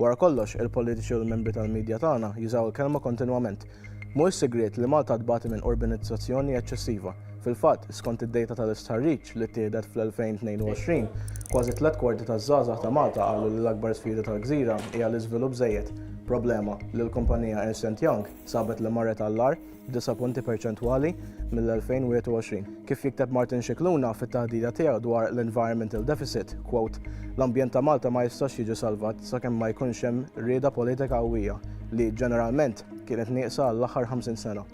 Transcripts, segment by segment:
Wara kollox, il-politiċi u l-membri tal-midja tagħna jużaw il-kelma kontinwament. Mhuwiex sigriet li Malta tbati minn urbanizzazzjoni eċċessiva. Fil-fatt, skont id-dejta tal-istħarriġ li ttieħdet fl-2022, kważi tliet kwarti taż-żgħażagħ ta' Malta qalu li l-akbar sfida tal-gżira hija l-iżvilupp żejjed, problema li l-kumpanija Ernst and Young sabet li marret għall-agħar. disa' punti perċentwali mill-2021. Kif jikteb Martin Scicluna fit-taħdida tiegħu dwar l-environmental deficit, quote, l-ambjent ta' Malta ma jistax jiġi salvat sakemm ma jkunx hemm rieda politika qawwija li, ġeneralment, kienet nieqsa għall-aħħar 50 sena.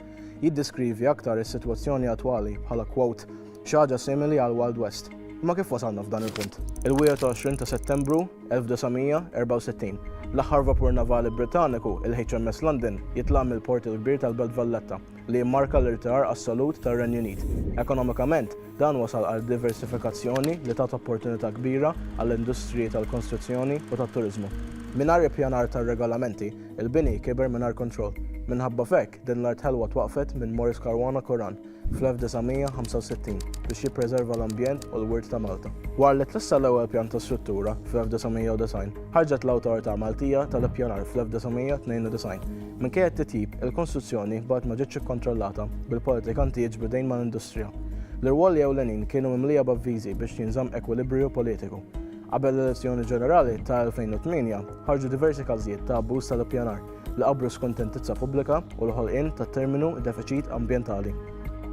Jiddeskrivi aktar is-sitwazzjoni attwali bħala quote, Xi ħaġa simili għall-Wild West. Imma kif wasalna f'dan il-punt? Il-21 ta' Settembru 1964, l-aħħar vapur navali Britanniku, il-HMS London, jitlaq mill-Port il-Kbir tal-Belt Valletta, li jimmarka l-irtirar assolut tar-Renju Unit. Ekonomikament, dan wassal għal diversifikazzjoni li tat opportunità kbira għall-industriji tal-konstruzzjoni u tat-turiżmu. Mingħajr ippjanar tar-regolamenti, il-bini kiber mingħajr kontroll. Minħabba f'hekk, Din l-art ħelwa twaqqfet minn Maurice Caruana Curran fl-1965 biex jippreserva l-ambjent u l-wirt ta' Malta. Wara li tressaq l-ewwel pjan ta' struttura fl-1990, ħarġet l-Awtorità Maltija tal-Ippjanar fl-1992. Minkejja t-titjib, il-konstruzzjoni baqgħet ma ġietx ikkontrollata bil-politikanti jiġbidejn mal-industrija. L-irwoli ewlenin kienu mimlija b'avviżi biex jinżamm ekwilibriju politiku. Qabel l-elezzjoni ġenerali ta' 2008, ħarġu diversi każijiet ta' abbuż tal-ippjanar. li qabru s-skontentizza pubblika u l-ħolqien tat-terminu defiċit ambjentali.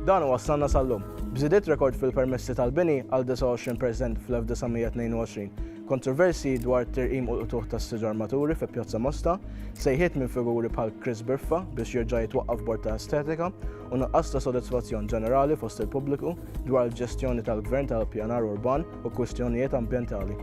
Dan iwassalna sal-lum, b'żidiet rekord fil-permessi tal-bini għal 29 perżent fl-1922, kontroversji dwar tirqim u l-qtugħ tas-siġar maturi fi Pjazza Mosta, sejħiet minn figuri bħal Chris Biffa biex jerġa' jitwaqqaf bord ta' estetika u nuqqas ta' sodisfazzjon ġenerali fost il-pubbliku dwar il-ġestjoni tal-Gvern tal-Ippjanar Urban u kwistjonijiet ambjentali.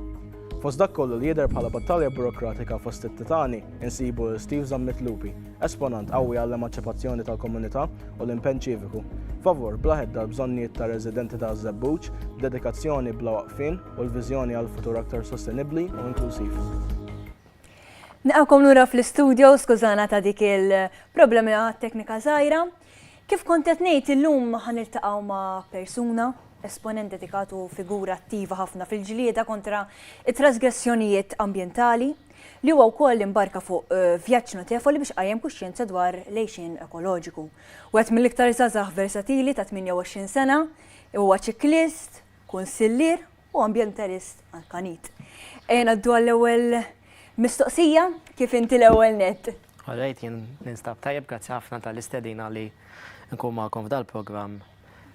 Fost dak kollu li jidher bħala battalja burokratika fost it-titani, insibu lil Steve Zammit Lupi, esponant qawwi għall-emanċipazzjoni tal-komunità u l-impenn ċiviku, favur bla hedda l-bżonnijiet tar-residenti ta' Żebbuġ, b'dedikazzjoni bla waqfien u l-viżjoni għal futur aktar sostenibbli u inklusiv. Nilqakom lura fl-istudio, skużana ta' dik il-problema teknika żgħira. Kif kont qed ngħid, illum ħa niltaqgħu ma' persuna, esponent dedikat u figura attiva ħafna fil-ġlieda kontra t-trasgressjonijiet ambjentali, li huwa wkoll imbarka fuq vjaġġ notevoli biex qajjem kuxjenza dwar l-għixien ekoloġiku. Wieħed mill-iktar żgħażagħ versatili ta' 28 sena, huwa ċiklist, kunsillier u ambjentalist Maltanit. Ejja ngħaddu għall-ewwel mistoqsija, kif inti l-ewwel nett? All right, jien ninstab tajjeb, grazzi ħafna tal-istedina li nkun magħkom f'dal-programm.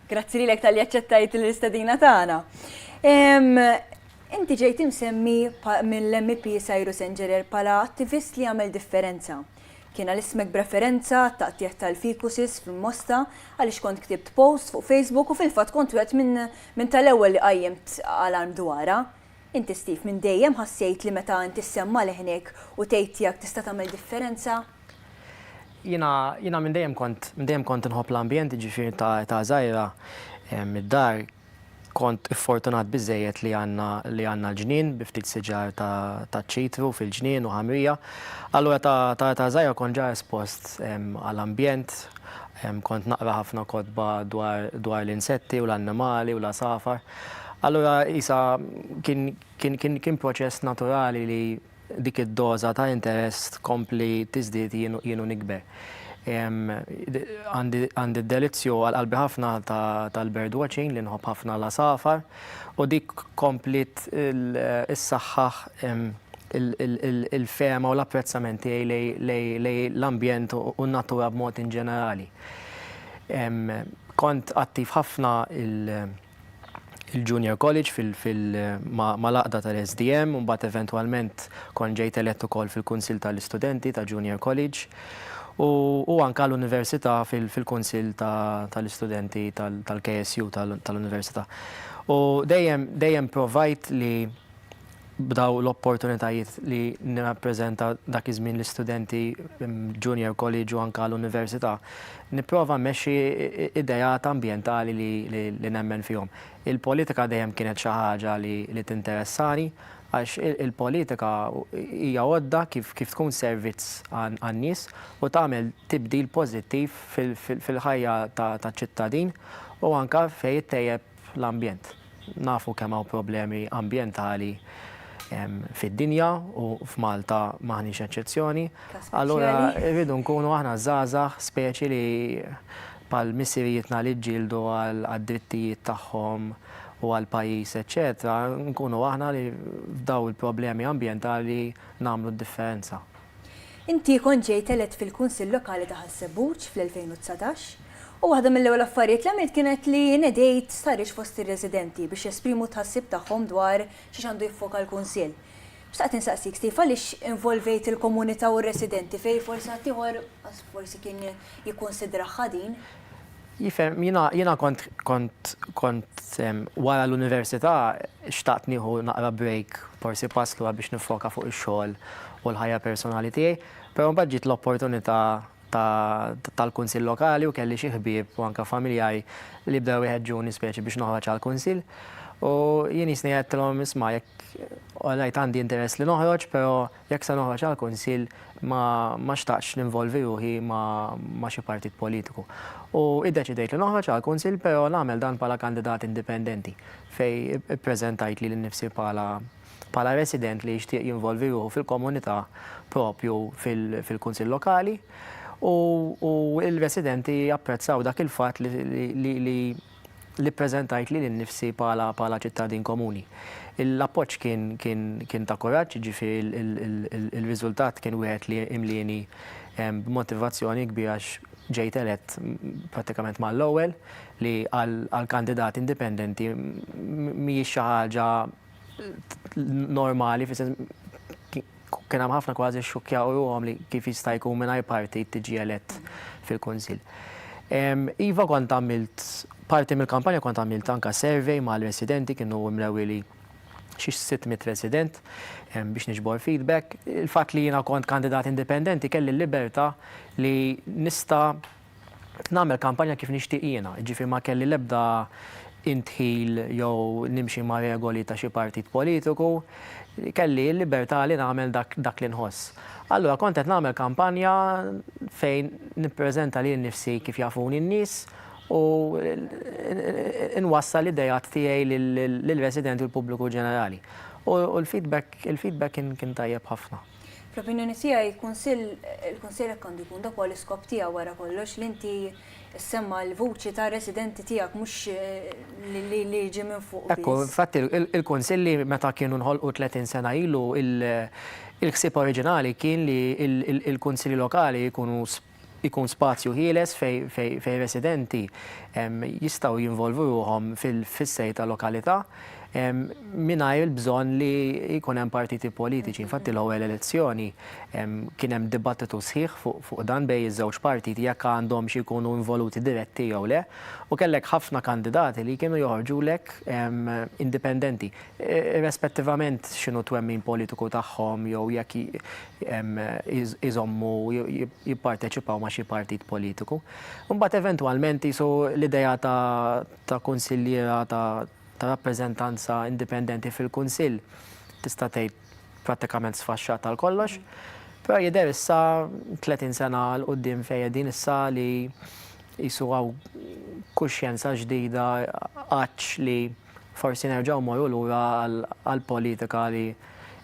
Grazzi lilek tal-li aċċettajt l-istedina tagħna. Inti ġejt imsemmi mill-MP Cyrus Engerer pala attivist li għamel differenza. Kiena l-ismek b'referenza taqtieħ tal-fikusis f'Mosta għaliex kont ktibt post fuq Facebook u fil-fatt kont wet minn tal-ewwel li qajjimt għal-arm dwara. Inti Steve minn dejjem ħassejt li meta inti ssemma' leħnek u tgħid tiegħek tista' tagħmel differenza? Jiena jiena minn dejjem kont minn dejjem kont inħobb l-ambjent jiġifieri ta' età żgħira mid-dar kont iffortunat biżżejjed li għandna li għandna l-ġnien bi ftit siġar ta' ta' ċitru fil-ġnien u ħamrija. Allura ta' ta' età żgħira kont ġa espost għal ambjent kont naqra ħafna kotba dwar dwar l-insetti u l-annimali u l-għasafar. Allura qisha kien proċess naturali li dik id-doża ta' interess tkompli tiżdied jien u nikber. Għandi d-delizzju għal qalbi ħafna tal-birdwatching li nħobb ħafna l-għasafar u dik kompliet issaħħaħ il-fehma u l-apprezzament tiegħi lejn l-ambjent u n-natura b'mod inġenerali. Kont attiv ħafna il-Junior College fil mal-għaqda tal-SDM u mbagħad eventwalment kont ġejt elett ukoll fil-Kunsill tal-Istudenti ta' Junior College u anke għall-Università fil-Kunsill tal-Istudenti tal-KSU tal-Università. U dejjem dejjem provajt li b'dawn l-opportunitajiet li nirrappreżenta dak iż-żmien l-istudenti junior college u anke l-università, nipprova mmexxi ideat ambjentali li nemmen fihom. Il-politika dejjem kienet xi ħaġa li tinteressani għax il-politika hija għodda kif tkun servizz għan-nies u tagħmel tibdil pożittiv fil-ħajja taċ-ċittadin u anke fejn ittejjeb fl-ambjent. Nafu kemm hawn problemi ambjentali fid-dinja u f'Malta m'aħniex eċċezzjoni. Allura rridu nkunu aħna żgħażagħ speċi li bħal missirijietna li ġġieldu għad-drittijiet tagħhom u għall-pajjiż eċċetera, nkunu aħna li f'dawn il-problemi ambjentali nagħmlu d-differenza. Inti kont ġejt elett fil-Kunsill Lokali ta' Ħaż-Żebbuġ fl-2019 u waħda mill-ewwel affarijiet li għamilt kienet li nedejt stħarriġ fost ir-residenti biex jesprimu t-tħassib tagħhom dwar xiex għandu jiffoka l-Kunsill. Xtaqt insaqsik, Steve, għaliex involvejt il-komunità u r-residenti fejn forsi ħaddieħor forsi kien jikkunsidraha din? Jifhem, jiena, jiena kont, kont, kont wara l-università xtaqt nieħu naqra break, forsi pass lura biex niffoka fuq ix-xogħol u l-ħajja personali tiegħi, però mbagħad ġiet l-opportunità ta', tal-Kunsill Lokali u kelli xi ħbieb u anke familjari li bdew iħeġġuni speċi biex noħroġ għall-Kunsill. U jien jisni għedtilhom, isma' jekk, all right għandi interess li noħroġ, però Jekk se noħroġ għall-Kunsill ma xtaqtx ninvolvi ruħi ma' xi partit politiku. U iddeċidejt li noħroġ għall-Kunsill pero nagħmel dan bħala kandidat indipendenti fejn ippreżentajt lili nnifsi bħala resident li jixtieq jinvolvi ruħu fil-komunità proprju fil-Kunsill Lokali u l-residenti apprezzaw dak il-fatt li li ppreżentajt lili nnifsi bħala bħala ċittadin komuni. L-appoġġ kien kien kien ta' kuraġġ, jiġifieri l-riżultat kien wieħed li imlieni b'motivazzjoni kbira għax ġejt elett prattikament mal-ewwel li għal għal kandidat indipendenti mhijiex xi ħaġa normali, kien hemm ħafna kważi xxukkjaw ruħhom li kif jista' jkun mingħajr partit tiġi elett fil-Kunsill. Iva kont għamilt parti mill-kampanja kont għamilt anke survey mal-residenti kienu mlewi li xi 600 resident biex niġbor feedback. Il-fatt li jiena kont kandidat indipendenti kelli l-libertà li nista' nagħmel kampanja kif nixtieq jiena, jiġifieri ma kelli l-ebda indħil jew nimxi ma' regoli ta' xi partit politiku, kelli l-libertà li nagħmel dak li nħoss. Allura kont qed nagħmel kampanja fejn nippreżenta lil nifsi kif jafuni n-nies u nwassal l-ideat tiegħi lill-residenti u l-pubbliku ġenerali. U l-feedback kien tajjeb ħafna. Fl-opinjoni tiegħi il-Kunsill il-Kunsill hekk għandu jkun dak huwa l-iskop tiegħu wara kollox li inti semma l-vuċi ta' residenti tiegħek mhux eh, li- li li jiġi minn fuq. Ekku, biss. infatti il- il-kunsilli meta kienu nħolqu 30 sena ilu il- il-ħsieb oriġinali kien li il- il- il-kunsilli lokali jkunu s- ikun spazju ħieles fejn residenti jistgħu jinvolvu ruħhom fil-fissejr ta' lokalità mingħajr il-bżonn li jkun hemm partiti politiċi. Infatti l-ewwel elezzjoni kien hemm dibattitu sħiħ fuq dan bejn iż-żewġ partiti jekk għandhomx ikunu involuti diretti jew le u kellek ħafna kandidati li kienu joħorġulek indipendenti. irrespettivament x'inhu t-twemmin politiku tagħhom jew jekk iżommu jipparteċipaw ma' xi partit politiku. Imbagħad eventwalment qisu l-idea ta' kunsilliera ta' rappreżentanza indipendenti fil-Kunsill tista' tgħid prattikament sfaxxat għal kollox. Però jidher issa 30 sena 'l quddiem fejn qegħdin issa li qisu hawn kuxjenza ġdida għatx li Forsi nerġgħu mmorru lura għal politika li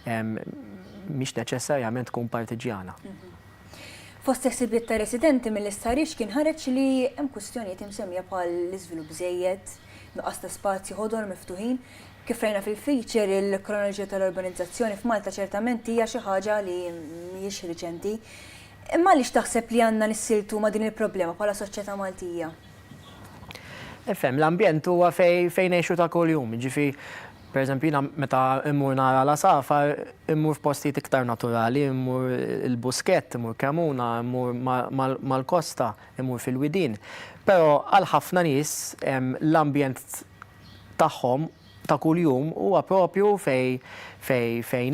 mhix neċessarjament tkun partiġġjana. Fost is-sibbiet ta' residenti mill-istħarriġ kien ħareġ li hemm kwistjonijiet imsemmija bħal l-iżvilupp żejjed, nuqqas ta' spazji ħodor miftuħin. Kif rajna fil-feature, il-kronoloġija tal-urbanizzazzjoni f'Malta ċertament hija xi ħaġa li mhijiex riċenti. Imma għaliex taħseb li għandna nissiltu ma' din il-problema bħala soċjetà Maltija? Ifhem, l-ambjent huwa fejn ngħixu ta' kuljum, jiġifieri pereżempju jiena meta mmur nara l-għasafar immur f'postijiet iktar naturali, immur il-Buskett, immur Cremona, immur mal-kosta, immur fil-widien. Però għal ħafna nies l-ambjent tagħhom ta' kuljum huwa proprju fejn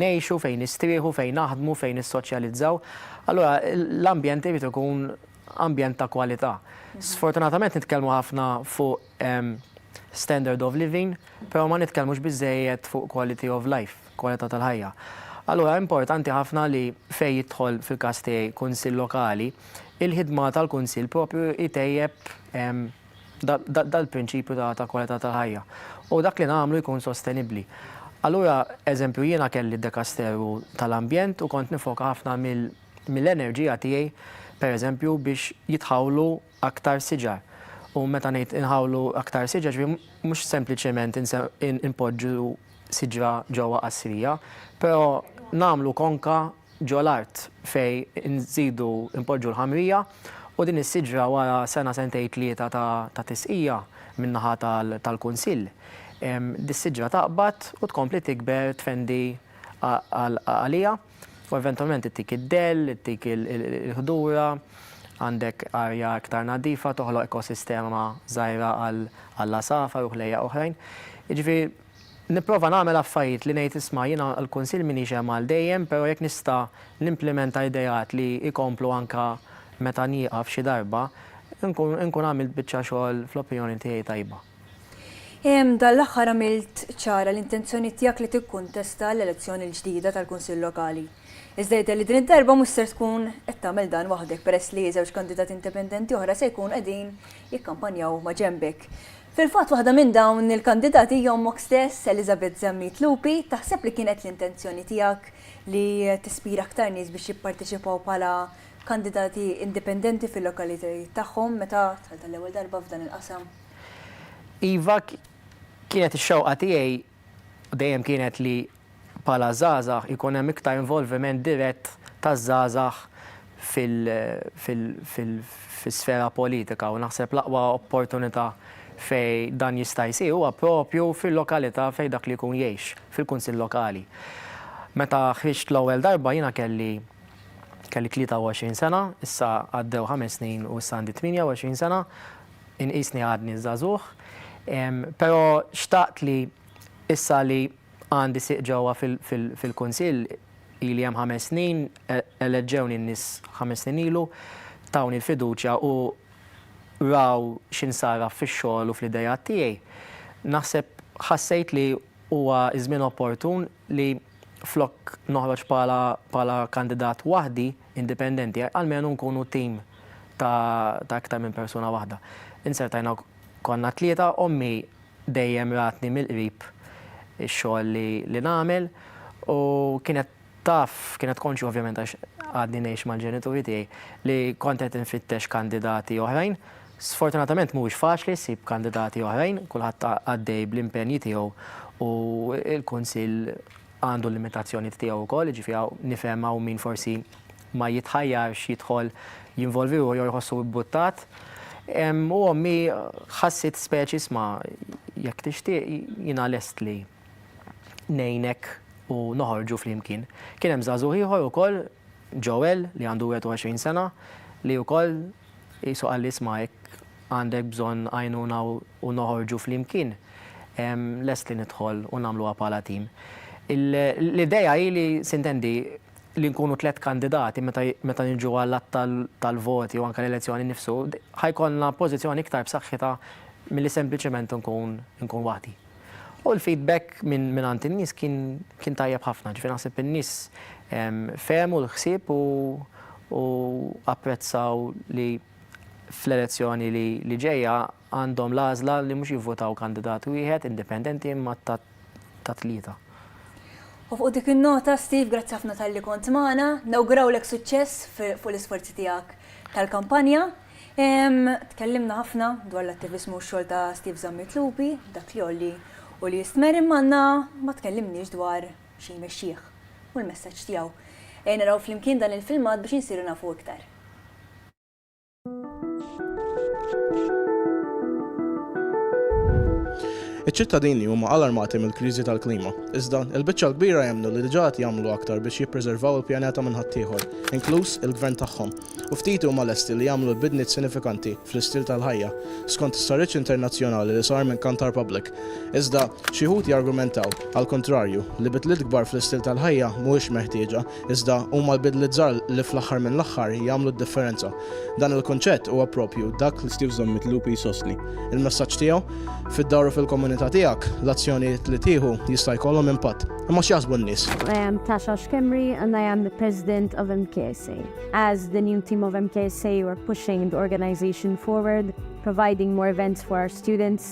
ngħixu, fejn nistrieħu, fejn naħdmu, fejn nissoċjalizzaw. Allura l-ambjent irid ikun ambjent ta' kwalità. Sfortunatament nitkellmu ħafna fuq standard of living, però ma nitkellmux biżżejjed fuq quality of life, kwalità tal-ħajja. Allura importanti ħafna li fejn jidħol fil-każ tiegħi kunsill lokali, il-ħidma tal-kunsill proprju jtejjeb dal-prinċipju ta' kwalità tal-ħajja u dak li nagħmlu jkun sostenibbli. Allura, eżempju, jiena kelli d-dekasteru tal-ambjent u kont nifoka ħafna mill-, mill-enerġija tiegħi pereżempju biex jitħawlu aktar siġar. U meta ngħid inħawlu aktar siġar, ġifieri mhux sempliċement inpoġġu siġra ġewwa qasrija, però nagħmlu konka ġo l-art fejn inżidu npoġġu l-ħamrija u din is-siġra wara sena sentejn tlieta ta' tisqija min-naħa tal-Kunsill, dis-siġra taqbad u tkompli tikber tfendi għaliha. U eventwalment ittik id-dell, ittik il-ħdura, għandek arja iktar nadifa, toħloq ekosistema żgħira għall-għasafar u ħlejjaq oħrajn. Jiġifieri nipprova nagħmel affarijiet li ngħid isma' jiena għall-kunsill m'iniex hemm għal dejjem, però jekk nista' nimplimenta ideat li jkomplu anke meta nieqaf xi darba, inkun għamilt biċċa xogħol fl-opinjoni tiegħi tajba. Dan l-aħħar għamilt ċara l-intenzjoni tiegħek li tikkuntesta l-elezzjoni l-ġdida tal-Kunsill Lokali. Iżda jidher li din id-darba mhux ser tkun qed tagħmel dan waħdek peress li żewġ kandidati indipendenti oħra se jkunu qegħdin jikkampanjaw maġenbek. Fil-fatt waħda minn dawn il-kandidati hija ommok stess, Elizabeth Zammit Lupi. Taħseb li kienet l-intenzjoni tiegħek li tispira aktar nies biex jipparteċipaw bħala kandidati indipendenti fil-lokalitajiet tagħhom meta dħalt għall-ewwel darba f'dan il-qasam? Iva, kienet ix-xewqa tiegħi dejjem kienet li bħala żgħażagħ ikun hemm iktar involviment dirett taż-żgħażagħ fil-sfera politika u naħseb l-aqwa opportunità fejn dan jista' jsir huwa proprju fil-lokalità fejn dak li jkun jgħix, fil-Kunsill Lokali. Meta ħriġt l-ewwel darba jiena kelli kelli 23 sena, issa għaddew ħames snin u issa għandi 28 sena, inqisni għadni żagħżugħ, però xtaqt li issa li għandi sieq ġewwa fil-Kunsill, ili hemm ħames snin, eleġġewni n-nies ħames snin ilu, tawni l-fiduċja u raw x'insarraf fix-xogħol u fl-ideat tiegħi, naħseb ħassejt li huwa ż-żmien opportun li flok noħroġ bħala kandidat waħdi, indipendenti, almenu nkunu tim ta' iktar minn persuna waħda. Insertajna konna t-tlieta, ommi dejjem ratni mill-qrib ix-xogħol li nagħmel u kienet taf, kienet konxja ovvjament għax għadni ngħix mal-ġenituri tiegħi, li kont qed infittex kandidati oħrajn. Sfortunatament mhuwiex faċli ssib kandidati oħrajn, kulħadd għaddej bl-impenji tiegħu u l-kunsill għandu l-limitazzjonijiet tiegħu wkoll, jiġifieri hawn nifhem hawn min forsi ma jitħajjarx jidħol jinvolvi ruħu jew jħossu ibbuttat. U ommi ħassit speċi isma' jekk tixtieq jiena lest li ngħinek u noħorġu flimkien. Kien hemm żagħżugħ ieħor ukoll Joel li għandu 21 sena li wkoll qisu qal li isma' jekk għandek bżonn għajnuna u noħorġu flimkien, lest li nidħol u nagħmluha bħala tim. L-idea hi li, sintendi, li nkunu tliet kandidati meta niġu għall-għadd tal-voti u anke l-elezzjoni nnifsu, ħa jkollna pożizzjoni iktar b'saħħitha milli sempliċement nkun waħdi. U l-feedback mingħand in-nies kien tajjeb ħafna, ġifieri naħseb in-nies fehmu l-ħsieb u apprezzaw li fl-elezzjoni li ġejja għandhom l-għażla li mhux jivvutaw kandidat wieħed indipendenti imma ta' tlieta. U fuq dik in-nota, Steve, grazzi ħafna talli kont magħna, nawgurawlek suċċess fuq l-isforzi tiegħek tal-kampanja. Tkellimna ħafna dwar l-attiviżmu u x-xogħol ta' Steve Zammit Lupi, dak li jgħolli u li jistmerr imma għandna ma tkellimniex dwar xi jmexxih u l-messaġġ tiegħu. Ejja naraw flimkien dan il-filmat biex insiru nafu iktar. Iċ-ċittadini huma alarmati mill-kriżi tal-klima, iżda, il-biċċa l-kbira jemmnu li diġà qed jagħmlu aktar biex jippreservaw il-pjaneta minn ħaddieħor, inkluż il-gvern tagħhom, u ftit huma lesti li jagħmlu l-bidliet sinifikanti fl-istil tal-ħajja, skont stħarriġ internazzjonali li sar minn Kantar Public. Iżda, xi wħud jargumentaw, għall-kuntrarju, li bidliet kbar fl-istil tal-ħajja mhuwiex meħtieġa, Iżda, huma l-bidliet żgħar li fl-aħħar mill-aħħar jagħmlu d-differenza. Dan il-kunċett huwa proprju dak li Steve Zammit Lupi jsostni. Il-messaġġ tiegħu, Fid-dar u fil-komunità tiegħek, l-azzjonijiet li tieħu jista' jkollhom impatt. Imma x'jaħsbu n-nies? I am Tasha Schembri and I am the President of MKSA. As the new team of MKSA, we're pushing the organization forward, providing more events for our students,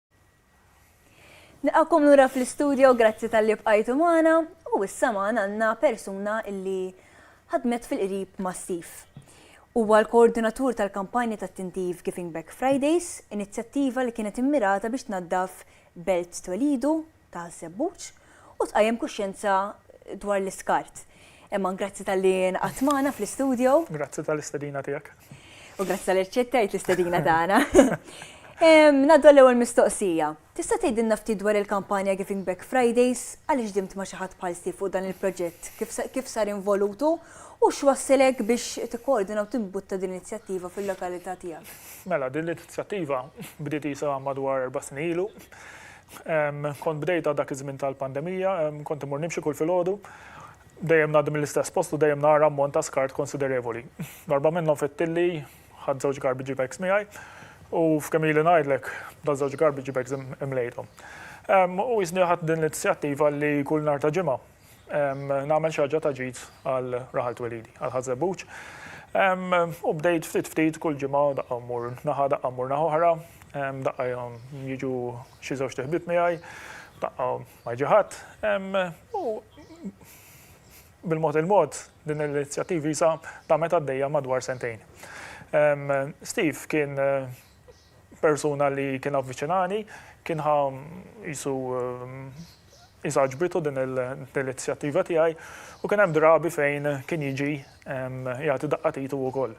Nilqakom lura fl-istudio, grazzi talli bqajtu magħna, u issa magħna għandna persuna li ħadmet fil-qrib ma' Steve. Huwa l-koordinatur tal-kampanja tat-tintiv Giving Back Fridays, inizjattiva li kienet immirata biex tnaddaf belt twelidu ta' Żebbuġ u tqajjem kuxjenza dwar l-iskart. Emman, grazzi tal-li nqatt magħna fl-istudio. Grazzi tal-istedina tiegħek. U grazzi tal-li rċettajt l-istedina tagħna. Naddu l-ewwel mistoqsija. Tista' tgħidilna ftit dwar il-kampanja Giving Back Fridays, għaliex dimt ma' xi ħadd bħal Steve fuq dan il-proġett, kif sar involutu u x'wasslek biex tikkoordina u timbutta din l-inizjattiva fil-lokalità tiegħek? Mela, din l-inizjattiva bdiet isa madwar erba' snin ilu. Kont bdejtha dak iż-żmien tal-pandemija, kont immur nimxi kull filgħodu. Dejjem ngħaddi mill-istess post u dejjem nara ammont ta' skart konsiderevoli. Darba minnhom fettilli, ħadt żewġ garbage bags miegħi u f'kemm ili ngħidlek, dawn żewġ garbage bags imlejthom. U qisni ħadt din l-inizjattiva li kull nhar ta' Ġimgħa, nagħmel xi ħaġa ta' ġid għal raħal twelidi, għal Ħaż Żebbuġ. U bdejt ftit ftit kull ġimgħa daqqa mmur naħa, daqqa mmur naħa oħra, daqqa jiġu xi żewġt iħbieb miegħi, daqqa ma jiġi ħadd. U bil-mod il-mod din l-inizjattiva issa damet għaddejja madwar sentejn. Steve kien persuna li kien avviċinani, kien ħa jisu jisagġbitu din l-inizjattiva tiegħi u kien hemm drabi fejn kien jiġi jagħti daqqa titu wkoll.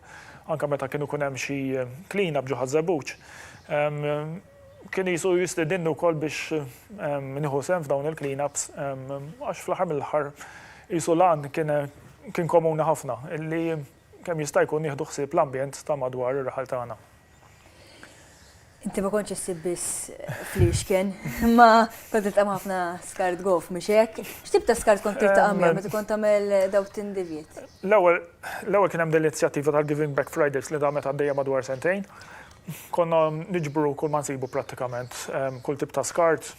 Anka meta kienu kun hemm xi klina bġo ħażebuġ, kien jisu jistidinni wkoll biex nieħu sem f'dawn il-cleanups għax fl-aħħar mill-aħħar jisu l-għan kien komuni ħafna illi Kemm jista' jkun nieħdu ħsieb l-ambjent ta' madwar ir-raħal tagħna? Inti ma kontx issib biss fliexken, imma kont titqam ħafna skart gof, mhux hekk? X'tib ta' skart kont tiltaqa' miegħu meta kont tagħmel dawk tindivjiet? L-ewwel l-ewwel kien hemm din l-inizjattiva tal-Giving Back Fridays li damet għaddejja madwar sentejn. Konna niġbru kull ma nsibu prattikament, kull tip ta' skart,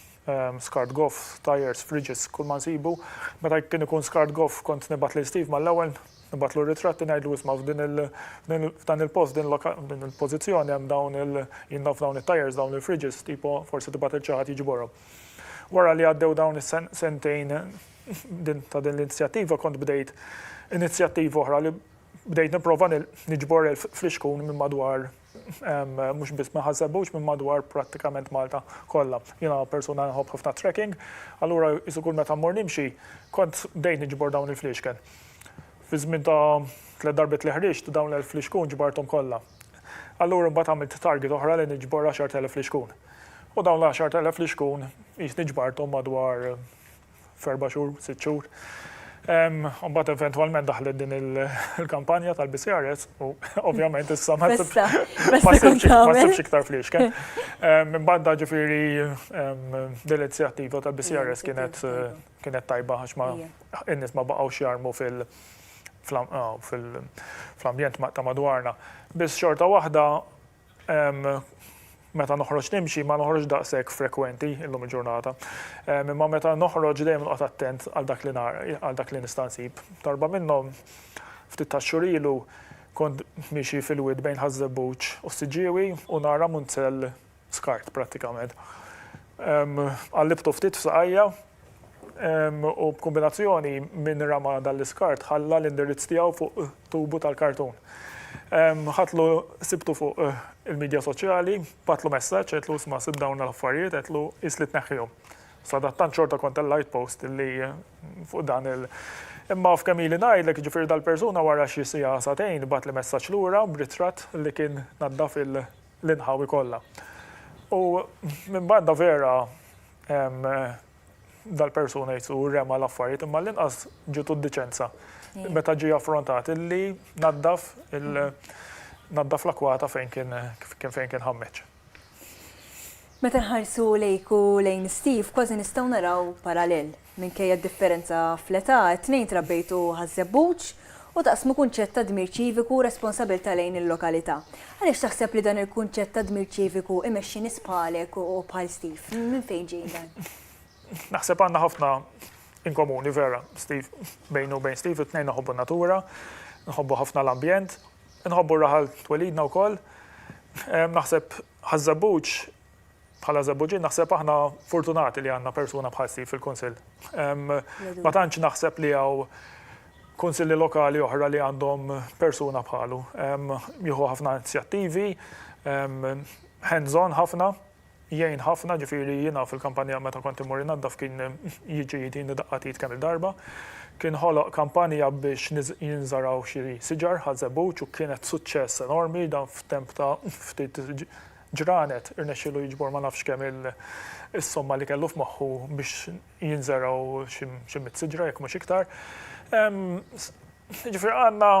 Skart Goff, Tyres, Fridges, kull ma nsibu. Meta kien ikun Skart Goff kont nibgħat lil Steve mal-ewwel, nibgħatlu r-ritratti ngħidlu isma' f'din il f'dan il-post f'din f'din il-pożizzjoni hemm dawn il jien naf dawn it-tyres dawn il-fridges tipo forsi tibgħat lil xi ħadd jiġborhom. Wara li għaddew dawn is-sentejn din ta' din l-inizjattiva kont bdejt inizjattiva oħra li bdejt nipprova niġbor elf flixkun minn madwar Mhux biss minn Ħaż-Żebbuġ, minn madwar prattikament Malta kollha. Jiena persuna nħobb ħafna t-trekking, allura qisu kull meta mmur nimxi, kont bdejt niġbor dawn il-fliexken. Fi żmien ta' tliet darbiet li ħriġt, dawn l-elf flixkun ġbarthom kollha. Allura mbagħad għamilt target oħra li niġbor għaxart elef flixkun. U dawn l-għaxart elef flixkun qisni ġbarthom madwar f'erba' xhur, sitt xhur. U mbagħad eventwalment daħlet din il-kampanja tal-BCRS u ovvjament issa ma sibx iktar fliexken. Imbagħad da ġifieri dil-inizjattiva tal-BCRS kienet kienet tajba għax ma in-nies ma baqgħux jarmu fil- fl-ambjent ta' madwarna. Biss xorta waħda Meta noħroġ nimxi ma noħroġx daqshekk frekwenti illum il-ġurnata. Imma meta noħroġ dejjem noqgħod attent għal dak li għal dak li nista' nsib. Darba minnhom, ftit tax-xhur ilu, kont miexi fil-wied bejn Ħaż-Żebbuġ u s-Siġġiewi u nara munzell skart prattikament. Qallibtu ftit f'saqajja u b'kombinazzjoni minn rama dan l-iskart ħalla l-indirizz tiegħu fuq tubu tal-kartun. Ħadtlu sibtu fuq il-midja soċjali, bagħtlu messaġġ għedtlu isma' sibt dawn l-affarijiet għedtlu qis li tneħħihom. Sadattant xorta kont tellajt post li fuq dan il Imma f'kemm ili ngħidlek jiġifieri dal-persuna wara xi siegħa sagħtejn bagħtli messaġġ lura b'ritratt li kien naddaf il l-inħawi kollha. U minn banda vera dal-persuna jsu rema l-affarijiet imma l-inqas ġitu d-diċenza meta ġie affrontat illi naddaf naddaf l-akwata fejn kien fejn kien ħammeġ. Meta nħarsu lejk u lejn Steve kważi nistgħu naraw parallel. Minkejja d-differenza fl-età, it-tnejn trabbejtu Ħaż-Żebbuġ u taqsmu kunċett ta' dmir ċiviku u responsabilità lejn il-lokalità. Għaliex taħseb li dan il-kunċett ta' dmir ċiviku imexxi nies bħalek u bħal Steve? Minn fejn ġej dan? Naħseb għandna ħafna in komuni vera, Steve, bejni u bejn Steve, it-tnejn nħobbu n-natura, nħobbu ħafna l-ambjent, nħobbu r-raħal twelidna wkoll. Naħseb Ħaż-Żebbuġ Bħala Żebbuġin naħseb aħna fortunati li għandna persuna bħal Steve fil-Kunsill. Ma tantx naħseb li hawn kunsilli lokali oħra li għandhom persuna bħalu. Jieħu ħafna inizjattivi, hands on ħafna, jgħin ħafna, ġifieri jiena fil-kampanja meta kont immur innaddaf kien jiġi jtini daqqat id kemm-il darba. Kien ħoloq kampanja biex jinżaraw xi siġar għaż-Żebbuġ u kienet suċċess enormi dan f'temp ta' ftit ġranet, irnexxielu jiġbor ma nafx kemm is-somma li kellu f'moħħu biex jinżergħu xi mitt siġra jekk mhux iktar. Jiġifieri għandna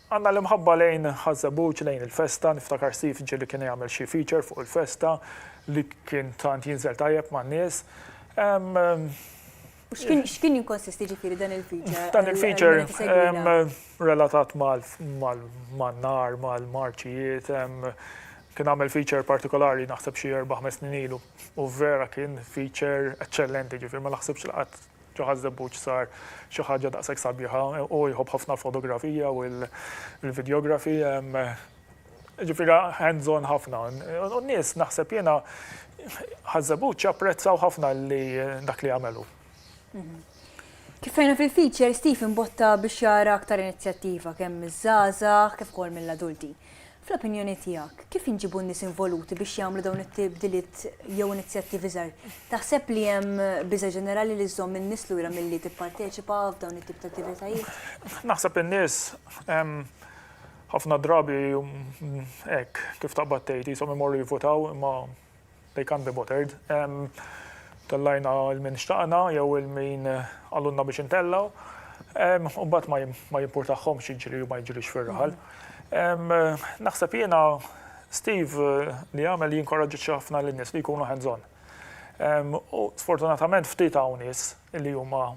għandna l-imħabba lejn Ħaż-Żebbuġ, lejn il-festa, niftakar Steve ġieli kien jagħmel xi feature fuq il-festa li kien tant jinżel tajjeb man-nies. X'kien jinkonsisti ġifieri dan il-feature? Dan il-feature relatat mal-nar, mal-marċijiet, kien għamel feature partikolari naħseb xi erba' ħmes snin ilu u vera kien feature eċċellenti ġifieri ma naħsibx li qatt ġo Ħaż-Żebbuġ sar xi ħaġa daqshekk sabiħa. Hu jħobb ħafna l-fotografija u l-videography. Ġifieri hands-on ħafna. U n-nies naħseb jiena Ħaż-Żebbuġ apprezzaw ħafna li dak li għamel hu. Kif rajna fil-feature, Steve imbotta biex jara aktar inizjattiva kemm miż-żgħażagħ kif ukoll mill-adulti. Fl-opinjoni tiegħek, kif inġibu n-nies involuti biex jagħmlu dawn it-tibdiliet jew inizjattivi żgħar? Taħseb li hemm biża' ġenerali li żżomm in-nies lura milli tipparteċipa f'dawn it-tip ta' attivitajiet? Naħseb in-nies Ħafna drabi hekk, kif taqbad tgħid, qishom imorru jivvutaw imma they can't be bothered. Tellajna 'l min xtaqna jew 'l min qalulna biex intellgħu, u mbagħad ma jimpurtahomx jiġri jew ma jiġrix fir-raħal. Naħseb jiena Steve li għamel jinkoraġġixxi ħafna lin-nies li jkunu hands on. U sfortunatament ftit hawn nies li huma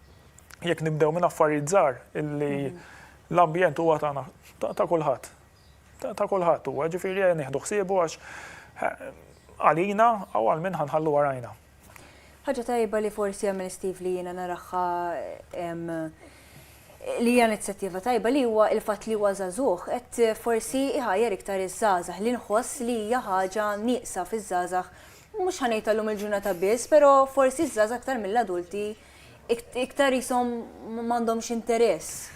Jekk nibdew minn affarijiet żgħar illi l-ambjent huwa tagħna ta' kulħadd. Ta' kulħadd huwa, ġifieri ejja nieħdu ħsiebu għax eh, għalina u għal min ħanħallu warajna. Ħaġa tajba li forsi għamil Steve li jiena naraħħa li hija inizjattiva tajba li huwa il-fatt li huwa żagħżugħ qed forsi iħajjar iktar iż-żgħażagħ li nħoss li hija ħaġa nieqsa fiż-żgħażagħ mhux ħanejt illum il-ġurnata biss, però forsi ż-żgħażagħ aktar mill-adulti iktar ishom m'għandhomx interess.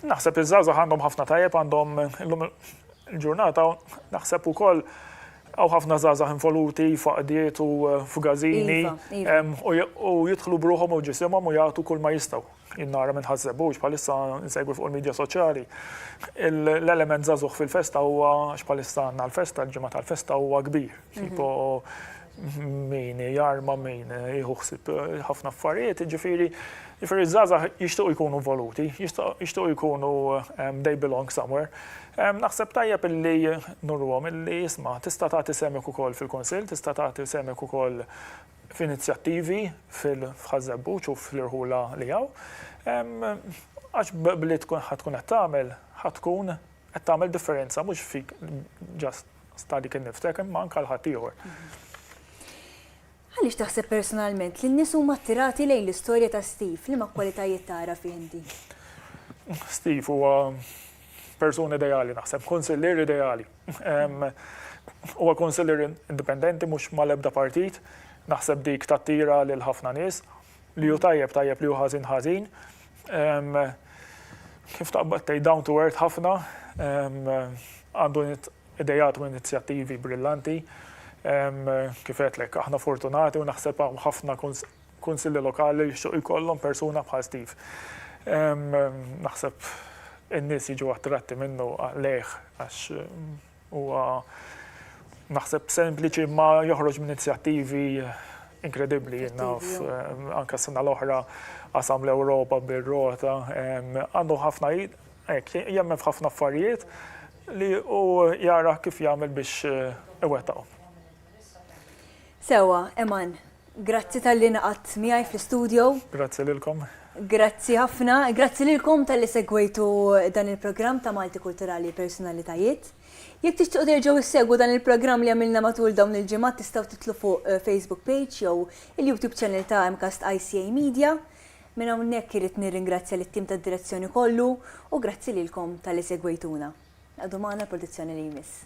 Naħseb li żgħażagħ għandhom ħafna tajjeb għandhom illum il-ġurnata naħseb ukoll għaw ħafna żgħażagħ involuti faqdiet u eh, f'gażini iva, iva. u jidħlu bruħom u ġisimhom u jagħtu kull ma jistgħu. Innara minn ħażebux bħalissa nsegwi fuq il-medja soċjali. L-element żagħżugħ fil-festa huwa x'bħalissa għandna l-festa, l-ġimgħa tal-festa huwa kbir. Tipo min jarma min jieħu ħsib ħafna affarijiet, ġifieri ġifieri żgħażagħ jixtiequ jkunu voluti, jixtiequ jkunu ehm, they belong somewhere. Ehm, naħseb tajjeb illi nurruhom illi isma' tista' tagħti semek ukoll fil-Kunsill, tista' tagħti semek ukoll f'inizjattivi fil-ħażebbuċ u fl-irħula li hawn. Ehm, għax b'li tkun ħatkun qed tagħmel, ħatkun qed tagħmel differenza mhux fik ġast stadi kien niftek, imma anke għal ħaddieħor. Għaliex taħseb personalment li n-nies huma attirati lejn l-istorja ta' Steve? Liema kwalitajiet tara fih inti? Steve huwa persuna ideali naħseb, konsillier ideali. Huwa konsillier indipendenti mhux mal-ebda partit, naħseb dik tattira lil ħafna nies. li hu tajjeb tajjeb li hu ħażin ħażin. Kif taqbad tgħid down to earth ħafna, għandu idejat u inizjattivi brillanti. Kif għedtlek, aħna fortunati u naħseb hawn ħafna kunsilli lokali li jixtiequ jkollhom persuna bħal Steve. Naħseb in-nies jiġu attratti minnu lejh għax Huwa naħseb sempliċi imma joħroġ minn inizjattivi inkredibbli jiena anke s-sena l-oħra qasam l-Ewropa bir-rota. Għandu ħafna hekk jemmen f'ħafna affarijiet li hu jara kif jagħmel biex iwettaqhom. Sewwa, Eman, Grazzi talli ingħaqadt miegħi fl-istudio. Grazzi lilkom. Grazzi ħafna. Grazzi lilkom talli segwejtu dan il-programm ta' Malti Kulturali Personalitajiet. Jekk tixtiequ terġgħu ssegwu dan il-programm li għamilna matul dawn il-ġimgħat tistgħu tidħlu fuq Facebook page jew il-YouTube channel ta' MCAST ICA Media. Minn hawnhekk irrid nirringrazzja lit-tim tad-direzzjoni kollu u grazzi lilkom talli segwejtuna. Qgħodu magħna l-produzzjoni li jmiss.